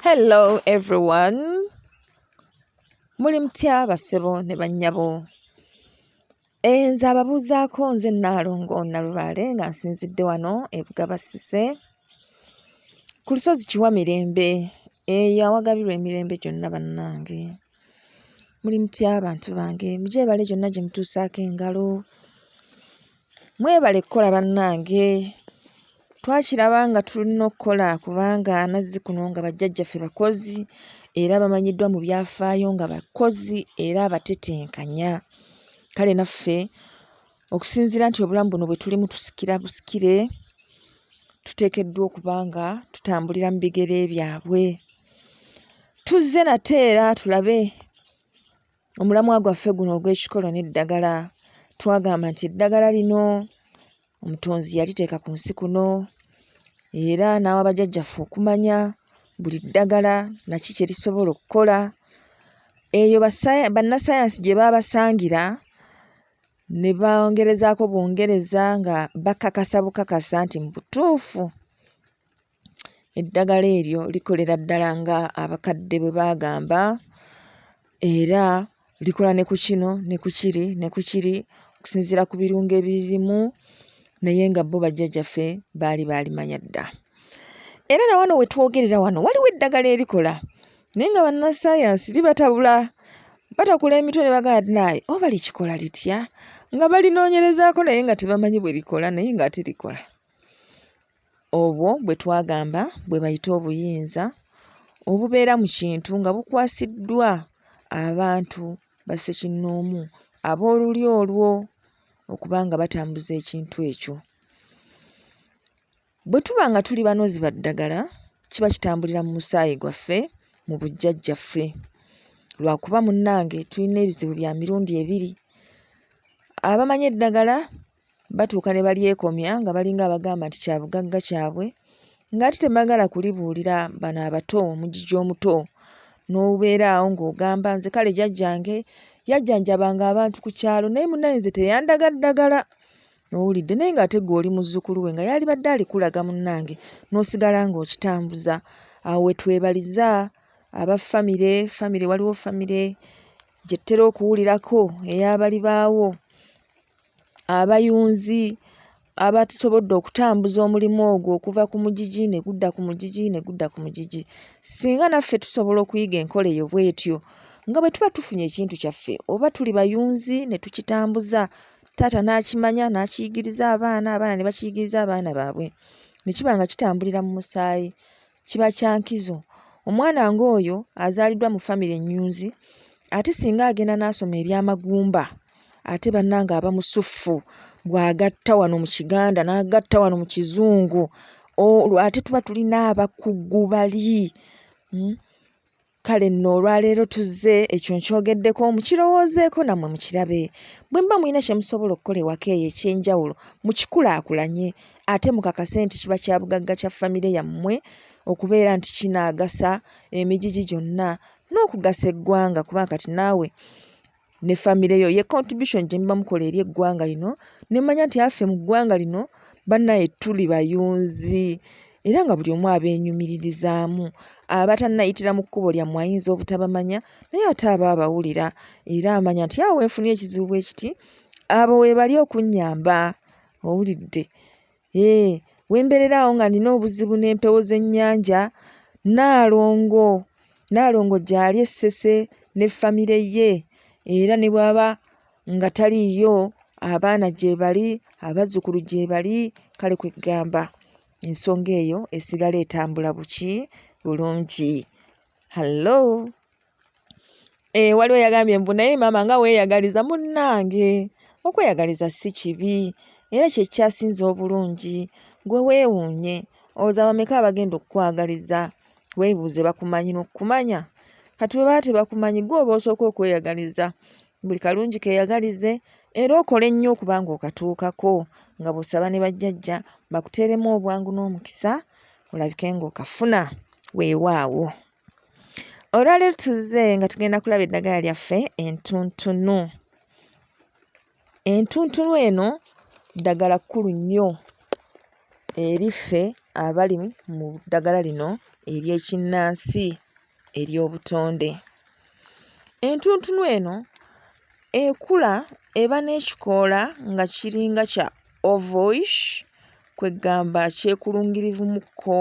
Hello everyone. Muli mutya basebo ne bannyabo. Eh, nze ababuuzaako nze Nnaalongo Nalubaale nga nsinzidde wano e Bugabasise ku lusozi Kiwamirembe eyo awagabirwa emirembe gyonna bannange. Muli mutya abantu bange? Mugyebale gyonna gye mutuusaako engalo. Mwebale kukola bannange. Twakiraba nga tulina okukola kubanga amazzi kuno nga bajjajjaffe bakozi era bamanyiddwa mu byafaayo nga bakozi era abatetenkanya. Kale naffe Okusinziira nti obulamu buno bwe tulimu tusikira busikire, tuteekeddwa okuba nga tutambulira mu bigere byabwe. Tuzze nate era tulabe omulamwa gwaffe guno ogw'ekikolo n'eddagala. Twagamba nti eddagala lino omutonzi yaliteeka ku nsi kuno era n'awa bajjajjaffe okumanya buli ddagala naki kye lisobola okukola. Eyo bannasayansi gye baabasangira ne bongerezaako bwongereza nga bakakasa bukakasa nti mu butuufu eddagala eryo likolera ddala nga abakadde bwe baagamba era likola ne ku kino ne ku kiri ne ku kiri okusinziira ku birungo ebiririmu naye nga bo bajjajjaffe baali baalimanya dda. Era na wano we twogerera wano waliwo eddagala erikola naye nga bannassaayansi li batabula batakula emitwe ne bagamba ti naye oba likikola litya nga balinoonyerezaako naye nga tebamanyi bwe likola naye ng'ate likola obwo bwe twagamba bwe bayita obuyinza obubeera mu kintu nga bukwasiddwa abantu bassekinnoomu ab'oluli olwo okuba nga batambuza ekintu ekyo Bwe tuba nga tuli banozi ba ddagala, kiba kitambulira mu musaayi gwaffe, mu bujjajjaffe. Lwa kuba munnange tulina ebizibu bya mirundi ebiri. Abamanyi eddagala batuuka ne balyekomya nga balinga abagamba nti kya bugagga kyabwe ng'ate tebagala kulibuulira bano abato, omugigi omuto n'obeera awo ng'ogamba nze kale jajjange yajjanjabanga abantu ku kyalo naye munnange nze teyandaga ddagala. Owulidde naye nga ate gwe oli muzukulu we nga yalibadde alikulaga munange nosigala nga okitambuza awo wetwebaliza aba family family waliwo family gyetutera okuwulirako eyabali baawo abayunzi abatusobodde okutambuza omulimu ogwo okuva ku mugigi ne gudda ku mugigi ne gudda ku mugigi singa naffe tusobola okuyiga enkola eyo bwetyo nga bwe tuba tufunye ekintu kyaffe oba tuli bayunzi ne tukitambuza taata n'akimanya n'akiyigiriza abaana abaana ne bakiyigiriza abaana baabwe ne kiba nga kitambulira mu musaayi kiba kya nkizo omwana ng'oyo azaaliddwa mu famire ennyunzi ate singa agenda n'asoma ebyamagumba ate bannange aba musuffu bw'agatta wano mu kiganda n'agatta wano mu kizungu olwo ate tuba tulina abakugu bali hmm? Kale nno olwaleero tuzze ekyo nkyogeddeko mukirowoozeeko nammwe mukirabe. Bwe muba mulina kye musobola okukola ewaka eyo eky'enjawulo mukikulaakulanye ate mukakase nti kiba kya bugagga kya famire yammwe okubeera nti kinaagasa emigigi gyonna n'okugasa eggwanga kubanga kati naawe ne famire yo ye contribution gye muba mukola eri eggwanga lino ne mmanya nti affe mu ggwanga lino bannaye tuli bayunzi era nga buli omu abeenyumiririzaamu abatannayitira mu kkubo lyammwe ayinza obutabamanya naye ate aba abawulira era amanya nti awo wenfunye ekizibu bwe kiti abo weebali okunnyamba owulidde Eeh wemberera awo nga nina obuzibu n'empewo z'ennyanja Nnaalongo Nnaalongo gyali e Ssese ne famire ye era ne bw'aba nga taliiyo abaana gyebali abazzukulu gyebali kale kwe ggamba ensonga eyo esigala etambula buki bulungi. Hallo! Eh, waliwo yagambye mbu naye maama nga weeyagaliza munnange okweyagaliza si kibi era kye kyasinze obulungi gwe weewuunye oza bameka abagenda okukwagaliza weebuuze bakumanyi n'okukumanya kati bwe baba tebakumanyi gwe oba osooka okweyagaliza buli kalungi keeyagalize era okole nnyo okuba ng'okatuukako nga bw'osaba ne bajjajja bakuteeremu obwangu n'omukisa olabike ng'okafuna weewaawo Olwaleero tuzze nga tugenda kulaba eddagala lyaffe entuntunu. Entuntunu eno ddagala kkulu nnyo eri ffe abali mu ddagala lino ery'ekinnansi ery'obutonde. Entuntunu eno ekula eba n'ekikoola nga kiringa kya ovoish kweggamba kyekulungirivu mu kko.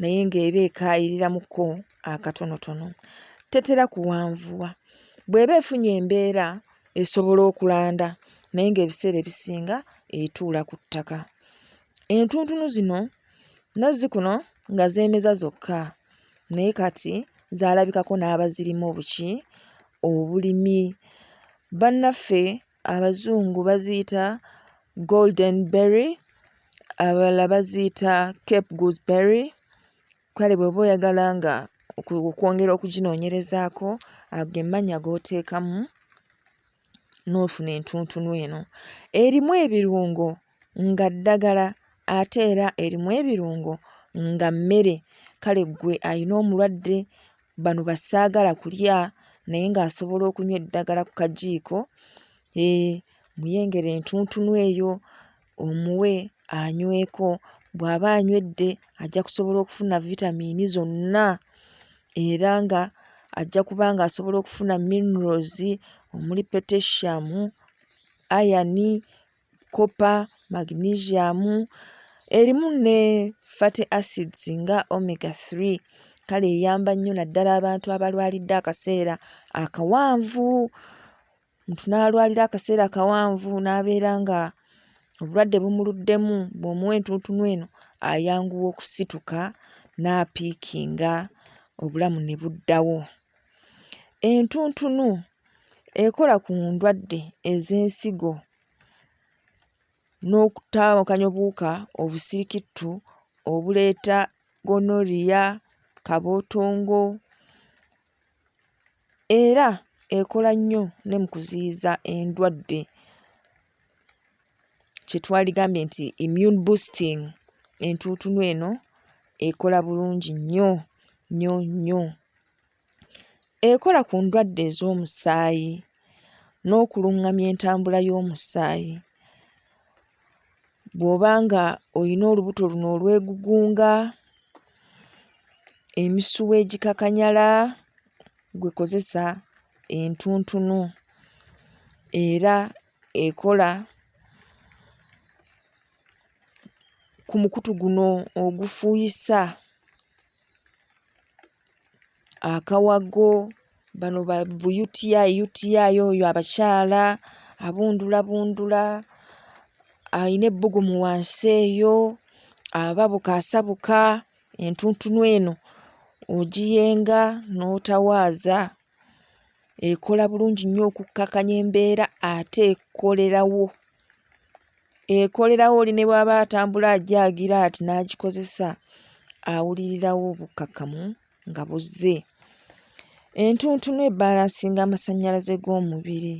naye ng'eba ekaayiriramuko akatonotono. Tetera kuwanvuwa. Bw'eba efunye embeera esobola okulanda naye ng'ebiseera ebisinga etuula ku ttaka. Entuntunu zino nazzikuno nga zeemeza zokka naye kati zaalabikako n'abazirimu obuki obulimi. Bannaffe Abazungu baziyita golden berry, abalala baziyita cape goose berry, kale bw'oba oyagala nga oku okwongera okuginoonyerezaako ago ge mannya g'oteekamu n'ofuna entuntunu eno. Erimu ebirungo nga ddagala ate era erimu ebirungo nga mmere kale ggwe alina omulwadde bano bassaagala kulya naye ng'asobola okunywa eddagala ku kajiiko hee muyengere entuntunu eyo omuwe anyweko bw'aba anywedde ajja kusobola okufuna vitamiini zonna era nga ajja kuba ng'asobola okufuna minerals omuli potassium, iron. copper, magnesium, erimu ne fatty acids nga Omega 3 kale eyamba nnyo naddala abantu abalwalidde akaseera akawanvu, omuntu n'alwalira akaseera akawanvu n'abeera ng'obulwadde bumuluddemu bw'omuwa entuntunu eno ayanguwa okusituka n'apiikinga obulamu ne buddawo Entuntunu ekola ku ndwadde ez'ensigo n'okutaawukanya obuwuka obusirikitu obuleeta gonorrhea, kabootongo era ekola nnyo ne mu kuziyiza endwadde kye twaligambye nti immune boosting. Entuntunu eno ekola bulungi nnyo nnyo nnyo. Ekola ku ndwadde ez'omusaayi n'okulungamya entambula y'omusaayi. Bw'oba nga olina olubuto luno olwegugunga, emisuwa egikakanyala gwe kozesa entuntunu era ekola ku mukutu guno ogufuuyisa. akawago bano ba UTI UTI oyo abakyala abundulabundula alina ebbugumu wansi eyo ababuka asabuka entuntunu eno ogiyenga n'otawaaza ekola bulungi nnyo okukkakanya embeera ate ekolerawo ekolerawo oli ne bw'aba atambula ajaagira ati n'agikozesa awulirirawo obukkakkamu nga buzze. Entuntunu ebbalansinga amasannyalaze g'omubiri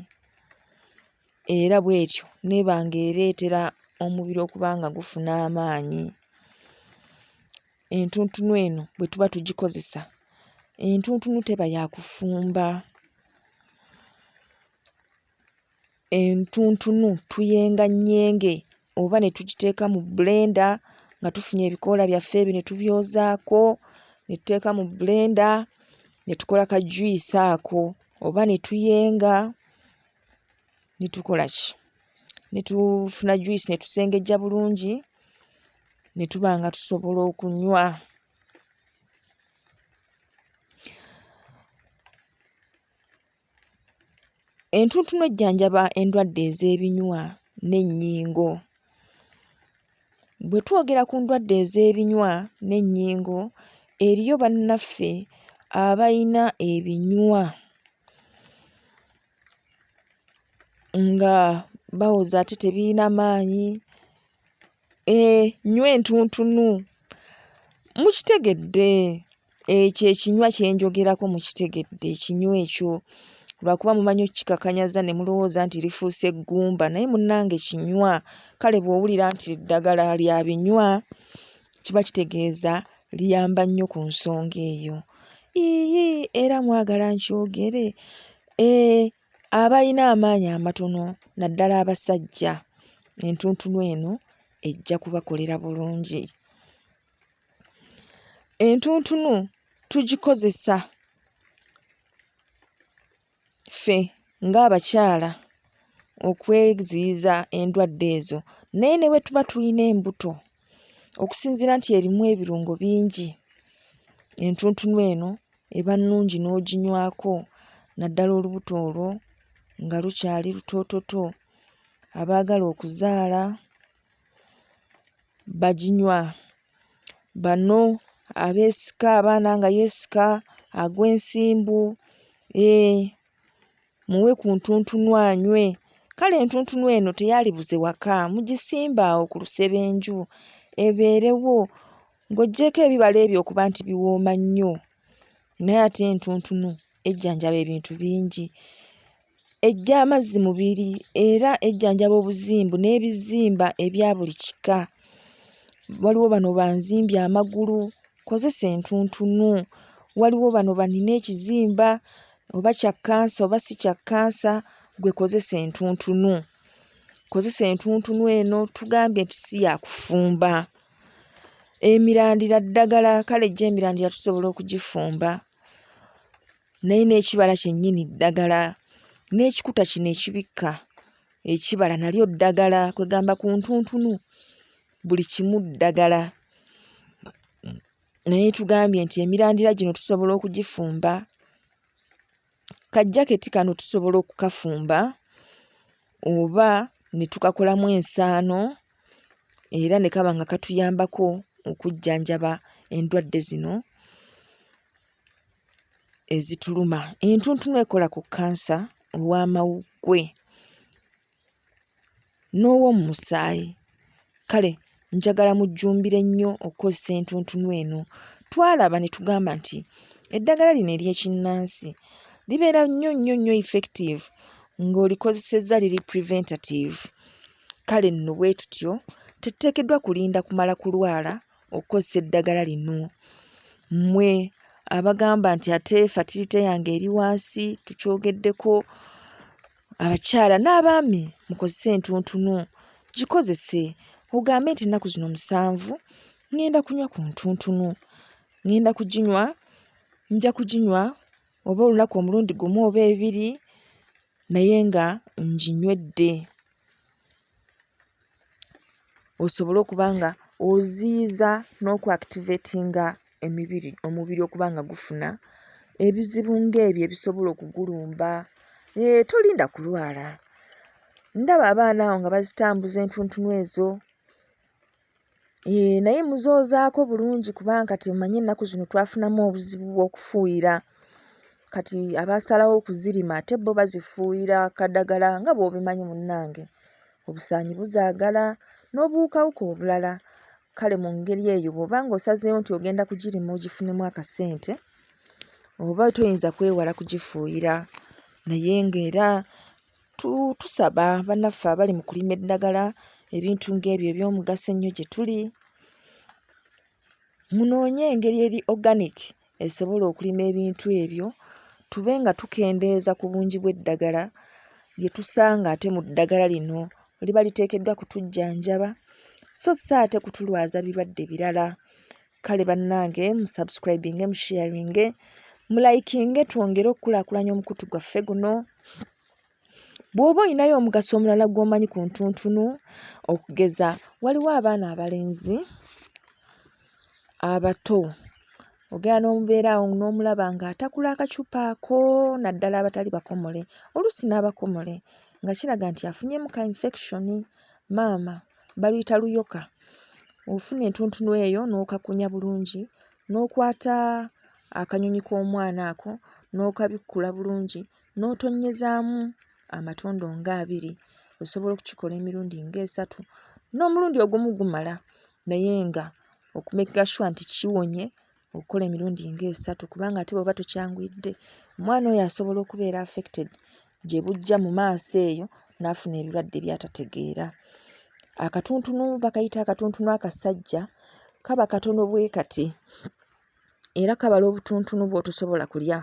era bw'etyo n'eba ng'ereetera omubiri okuba nga gufuna amaanyi. entuntunu eno bwe tuba tugikozesa, entuntunu teba ya kufumba, entuntunu tuyenganyenge oba ne tugiteeka mu bbulenda nga tufunye ebikoola byaffe ebyo ne tubyozaako ne tuteeka mu bbulenda ne tukola kajuyisi ako oba ne tuyenga. ne tukola ki? Ne tufuna juyisi ne tusengejja bulungi ne tuba nga tusobola okunywa. Entuntunu ejjanjaba endwadde ez'ebinywa n'ennyingo. Bwe twogera ku ndwadde ez'ebinywa n'ennyingo, eriyo bannaffe abalina ebinywa nga bawoza ate tebirina maanyi eeh nnywa entuntunu mukitegedde ekyo ekinywa kye njogerako mukitegedde ekinywa ekyo lwakuba mumanyi okukikakanyaza ne mulowooza nti lifuuse ggumba naye munnange kinywa kale bw'owulira nti eddagala lya binywa kiba kitegeeza liyamba nnyo ku nsonga eyo. Yiiyi era mwagala nkyogere? Ee, abalina amaanyi amatono naddala abasajja entuntunu eno ejja kubakolera bulungi. Entuntunu tugikozesa ffe ng'abakyala okweziyiza endwadde ezo naye ne bwe tuba tulina embuto okusinziira nti erimu ebirungo bingi entuntunu eno eba nnungi n'oginywako naddala olubuto olwo nga lukyali lutoototo, abaagala okuzaala baginywa. Bano abeesika abaana nga yeesika agwa ensimbu eeh muwe ku ntuntunu anywe. Kale entuntunu eno teyaalibuze waka mugisimbe awo ku lusebenju ebeerewo ng'oggyeeko ebibala ebyo okuba nti biwooma nnyo naye ate entuntunu ejjanjaba ebintu bingi. Eggya amazzi mubiri era ejjanjaba obuzimbu n'ebizimba ebya buli kika. Waliwo bano banzimbye amagulu nkozesa entuntunu. Waliwo bano banina ekizimba oba kya kkansa oba si kya kkansa ggwe kozesa entuntunu. Kozesa entuntunu eno tugambye nti si ya kufumba. Emirandira ddagala kale gyo emirandira tusobola okugifumba. naye n'ekibala kyennyini ddagala, n'ekikuta kino ekibikka ekibala nalyo ddagala kwegamba ku ntuntunu buli kimu ddagala naye tugambye nti emirandira gino tusobola okugifumba, ka jaketi kano tusobola okukafumba oba ne tukakolamu ensaano era ne kaba nga katuyambako okujjanjaba endwadde zino. ezituluma. Entuntunu ekola ku kkansa ow'amawuggwe n'ow'omu musaayi. Kale njagala mujjumbire nnyo okukozesa entuntunu eno. Twalaba ne tugamba nti eddagala lino ery'ekinnansi libeera nnyo nnyo nnyo effective ng'olikozesezza liri preventative. Kale nno bwe tutyo tetuteekeddwa kulinda kumala kulwala okukozesa eddagala lino mmwe abagamba nti ate fatirite yange eri wansi tukyogeddeko abakyala n'abaami mukozese entuntunu gikozese ogambe nti ennaku zino musanvu ŋŋenda kunywa ku ntuntunu ŋŋenda kuginywa nja kuginywa oba olunaku omulundi gumu oba ebiri naye nga nginywedde. osobole okuba nga oziyiza n'oku activatinga emibiri omubiri okuba nga gufuna ebizibu ng'ebyo ebisobola okugulumba eeh tolinda kulwala ndaba abaana awo nga bazitambuza entuntunu ezo. Eeh naye muzoozaako bulungi kubanga kati omanyi ennaku zino twafunamu obuzibu bw'okufuuyira kati abaasalawo okuzirima ate bo bazifuuyira kadagala nga bw'obimanyi munnange obusaanyi buzaagala n'obuwukawuka obulala kale mu ngeri eyo bw'oba ng'osazeewo nti ogenda kugirima ogifunemu akasente oba toyinza kwewala kugifuuyira naye ng'era Tusaba banaffe abali mu kulima eddagala ebintu ng'ebyo eby'omugaso ennyo gye tuli munoonye engeri eri organic esobola okulima ebintu ebyo tube nga tukendeeza ku bungi bw'eddagala lye tusanga ate mu ddagala lino liba liteekeddwa kutujjanjaba sso si ate kutulwaza birwadde birala. kale bannange mu subscribinge mu sharinge mu likinge twongere okukulaakulanya omukutu gwaffe guno bw'oba olinayo omugaso omulala gw'omanyi ku ntuntunu okugeza waliwo abaana abalenzi abato ogenda n'omubeera awo n'omulaba ng'atakula akacupa ako naddala abatali bakomole oluusi n'abakomole nga kiraga nti afunyemu ka infection maama baluyita luyoka. Ofuna entuntunu eyo n'okakunya bulungi n'okwata akanyonyi k'omwana ako n'okabikkula bulungi n'otonnyezaamu amatondo nga abiri. Osobola okukikola emirundi nga esatu, n'omulundi ogumu gumala naye ng'oku makinga shuwa nti kiwonye. okukola emirundi nga esatu kubanga ate bw'oba tokyanguyidde omwana oyo asobola okubeera affected gye bujja mu maaso eyo n'afuna ebirwadde by'atategeera. Akatuntunu bakayita akatuntunu akasajja kaba katono bwe kati era kabala obutuntunu bw'otosobola kulya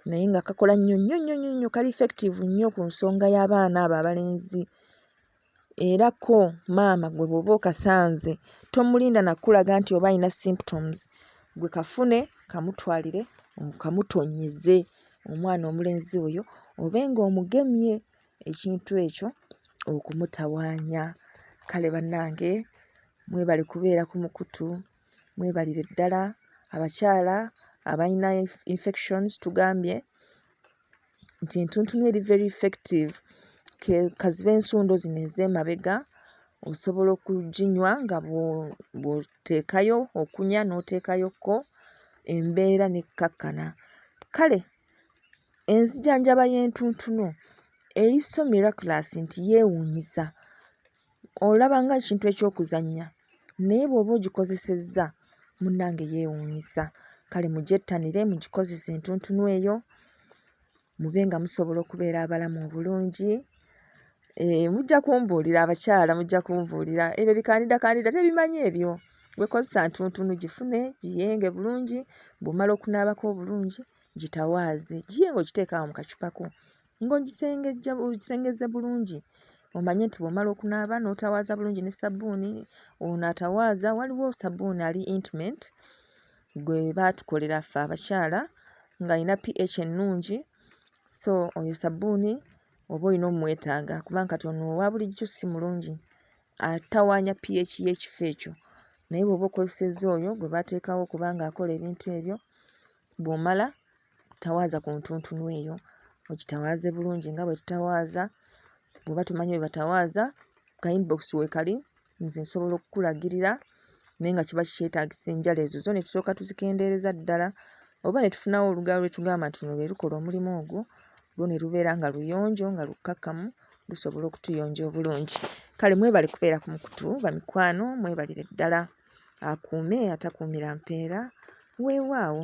naye nga kakola nnyo nnyo nnyo nnyo nnyo kali effective nnyo ku nsonga y'abaana abo abalenzi. Era ko maama gwe bwoba okasanze tomulinda nakulaga nti oba alina symptoms gwe kafune kamutwalire okamutonnyeze omwana omulenzi oyo obe nga omugemye ekintu ekyo okumutawaanya. Kale bannange mwebale kubeera ku mukutu mwebalire ddala abakyala abayina infections tugambye. nti entuntunu eri very effective ke kazibe ensundo zino ez'emabega osobola okuginywa nga bwo bw'oteekayo okunywa n'oteekayokko embeera n'ekkakkana kale enzijanjaba y'entuntunu eri so miraculous nti yeewuunyisa Olaba nga ekintu eky'okuzannya naye bw'oba ogikozesezza munnange yeewuunyisa. Kale mugyettanire mugikozese entuntunu eyo mube nga musobola okubeera abalamu obulungi. Eeh mujja kumbuulira abakyala mujja kumbuulira. Ebyo bikandidakanida tebimanyi ebyo. Gwe kozesa ntuntunu gifune giyenge bulungi bw'omala okunaabako obulungi gitawaaze giye ng'ogiteeka awo mu kacupa ko Ng'ogisengejja ogisengezze bulungi omanye nti bw'omala okunaaba n'otawaaza bulungi ne ssabbuuni ono atawaaza waliwo ssabbuuni ali Intimate gwe baatukolera ffe abakyala ng'alina PH ennungi so oyo ssabbuuni oba olina omwetaaga kubanga kati ono owa bulijjo si mulungi atawaanya PH y'ekifo ekyo naye bw'oba okozesezza oyo gwe baateekawo kubanga akola ebintu ebyo bw'omala tawaaza ku ntuntunu eyo ogitawaaze bulungi nga bwe tutawaaza bw'oba tomanyi bwe batawaaza ka inbox weekali nze nsobola okukulagirira naye nga kiba kikyetaagisa enjala ezo zo ne tusooka tuzikendeereza ddala oba ne tufunawo olugalo lwe tugamba nti luno lwe lukola omulimu ogwo lwo ne lubeera nga luyonjo nga lukkakkamu lusobola okutuyonja obulungi kale mwebale kubeera ku mukutu bamikwano mwebalire ddala akuume atakuumira mpeera weewaawo.